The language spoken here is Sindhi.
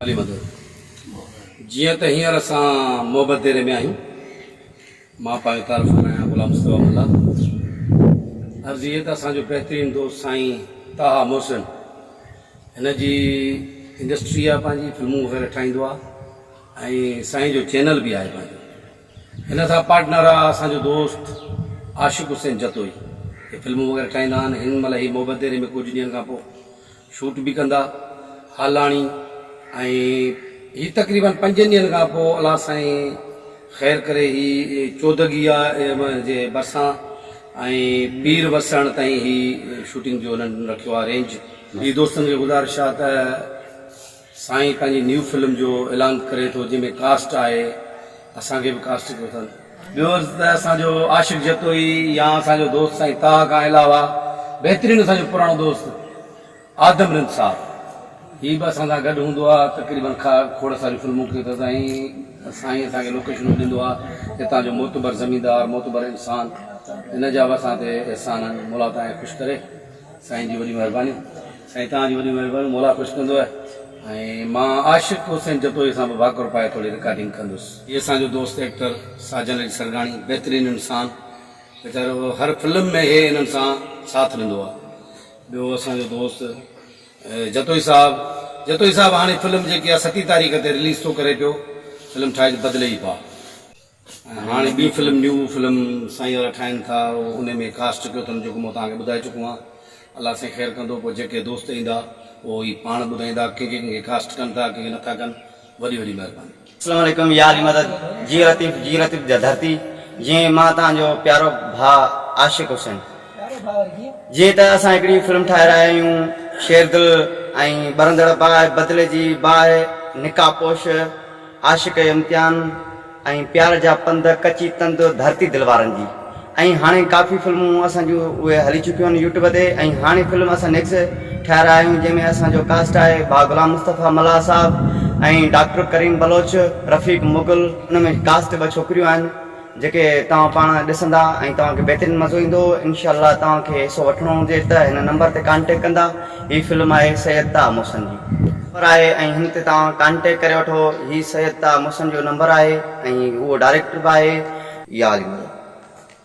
علي مدد، جيئن ته هينئر اسان محبت ديري ۾ آهيون. مان پنهنجو تعارف ڪرايان غلام مصطفيٰ ملاح. عرض هيء ته اسان جو بهترين دوست سائين طه محسن هن جي انڊسٽري آهي پنهنجي فلمون وغيره ٺاهيندو آهي ۽ سائين جو چينل به آهي پنهنجو هن سان پارٽنر آهي اسان جو دوست عاشق حسين جتوئي هي فلمون وغيره ٺاهيندا آهن هن مهل هي محبت ديري ۾ ڪجهه ڏينهن کان پوء شوٽ به ڪندا هالاڻي ۽ هي تقريبن پنجن ڏينهن کان پوء الله سائين خير ڪري هي چودڳيا جي ڀرسان ۽ پير وسڻ تائين هي شوٽنگ جو انهن رکيو آهي رينج. جي دوستن کي گذارش آ ته. سائين پنهنجي نيو فلم جو اعلان ڪري ٿو جنهن ۾ ڪاسٽ آهي اسان کي به ڪاسٽ ڪيو اٿن. ٻيو عرض ته اسان جو عاشق جتوئي يا اسان جو دوست سائين طه کان علاوه بهترين اسان جو پراڻو دوست آدم رند صاحب هي به اسان سان گڏ هوندو آ تقريبن کاء کوڙ ساريون فلمون ڪيو اٿس ۽ سائين اسان کي لوڪيشنون ڏيندو آ هتان جو معتبر زميندار معتبر انسان ان جا به اسان تي احسان آهن مولا تائين خوش ڪري. سائين جي وڏي مھرباني. سائين توھان جي وڏي مھرباني مولا خوش ڪندو آھي ۽ مان عاشق حسين جتوئي سان به ڀاڪر پائي ٿوري رڪارڊنگ ڪندس. ھي اسان جو دوست ايڪٽر ساجن علي سرگاڻي بهترين انسان ويچارو ھر فلم ۾ ھي ھنن سان ساٿ ڏندو آ ٻيو اسان جو دوست جتوئي صاحب جتوئي صاحب ھاڻي فلم جيڪي آ ستي تاريخ تي رليز ٿو ڪري پيو فلم ٺاھي بدلي ئي پا. هاڻي ٻي فلم نيو فلم سائين وارا ٺاهين ٿا ان ۾ ڪاسٽ ڪيو اٿن جيڪو مان توهان کي ٻڌائي چڪو آهيان الله سائين خير ڪندو پوء جيڪي دوست ايندا اهو هي پاڻ ٻڌائيندا ڪنهن کي ڪنهن کي ڪاسٽ ڪن ٿا ڪنهن کي نٿا ڪن وڏي وڏي مهرباني. اسلام عليڪم يا علي مدد جي لطيف جي لطيف جا ڌرتي جي مان توهان جو پيارو ڀاء عاشق حسين جي ته اسان هڪڙي فلم ٺاهي رهيا آهيون شيردل ۽ ٻرندڙ باهه بدلي جي باهه نقاب پوش عاشق امتحان ۽ پيار جا پنڌ، ڪچي تند، ڌرتي دل وارن جي ۽ هاڻي ڪافي فلمون اسان جون اهي هلي چڪيون آهن يوٽيوب تي ۽ هاڻي فلم اسان نيڪس ٺهرايا آهيون جنهن ۾ اسان جو ڪاسٽ آهي ڀاء غلام مصطفيٰ ملاح صاحب ۽ ڊاڪٽر ڪريم بلوچ، رفيق مغل ان ۾ ڪاسٽ ٻه ڇوڪريون آهن. جيڪي توهان پاڻ ڏسندا ۽ توهان کي بهترين مزو ايندو انشاء الله توهان کي حصو وٺڻو هجي ته هن نمبر تي ڪانٽيڪٽ ڪندا هي فلم آهي سيد طه محسن جي نمبر آهي ۽ هن تي توهان ڪانٽيڪٽ ڪري وٺو هي سيد طه محسن جو نمبر آهي ۽ اهو ڊائريڪٽر به آهي. يا علي ملا.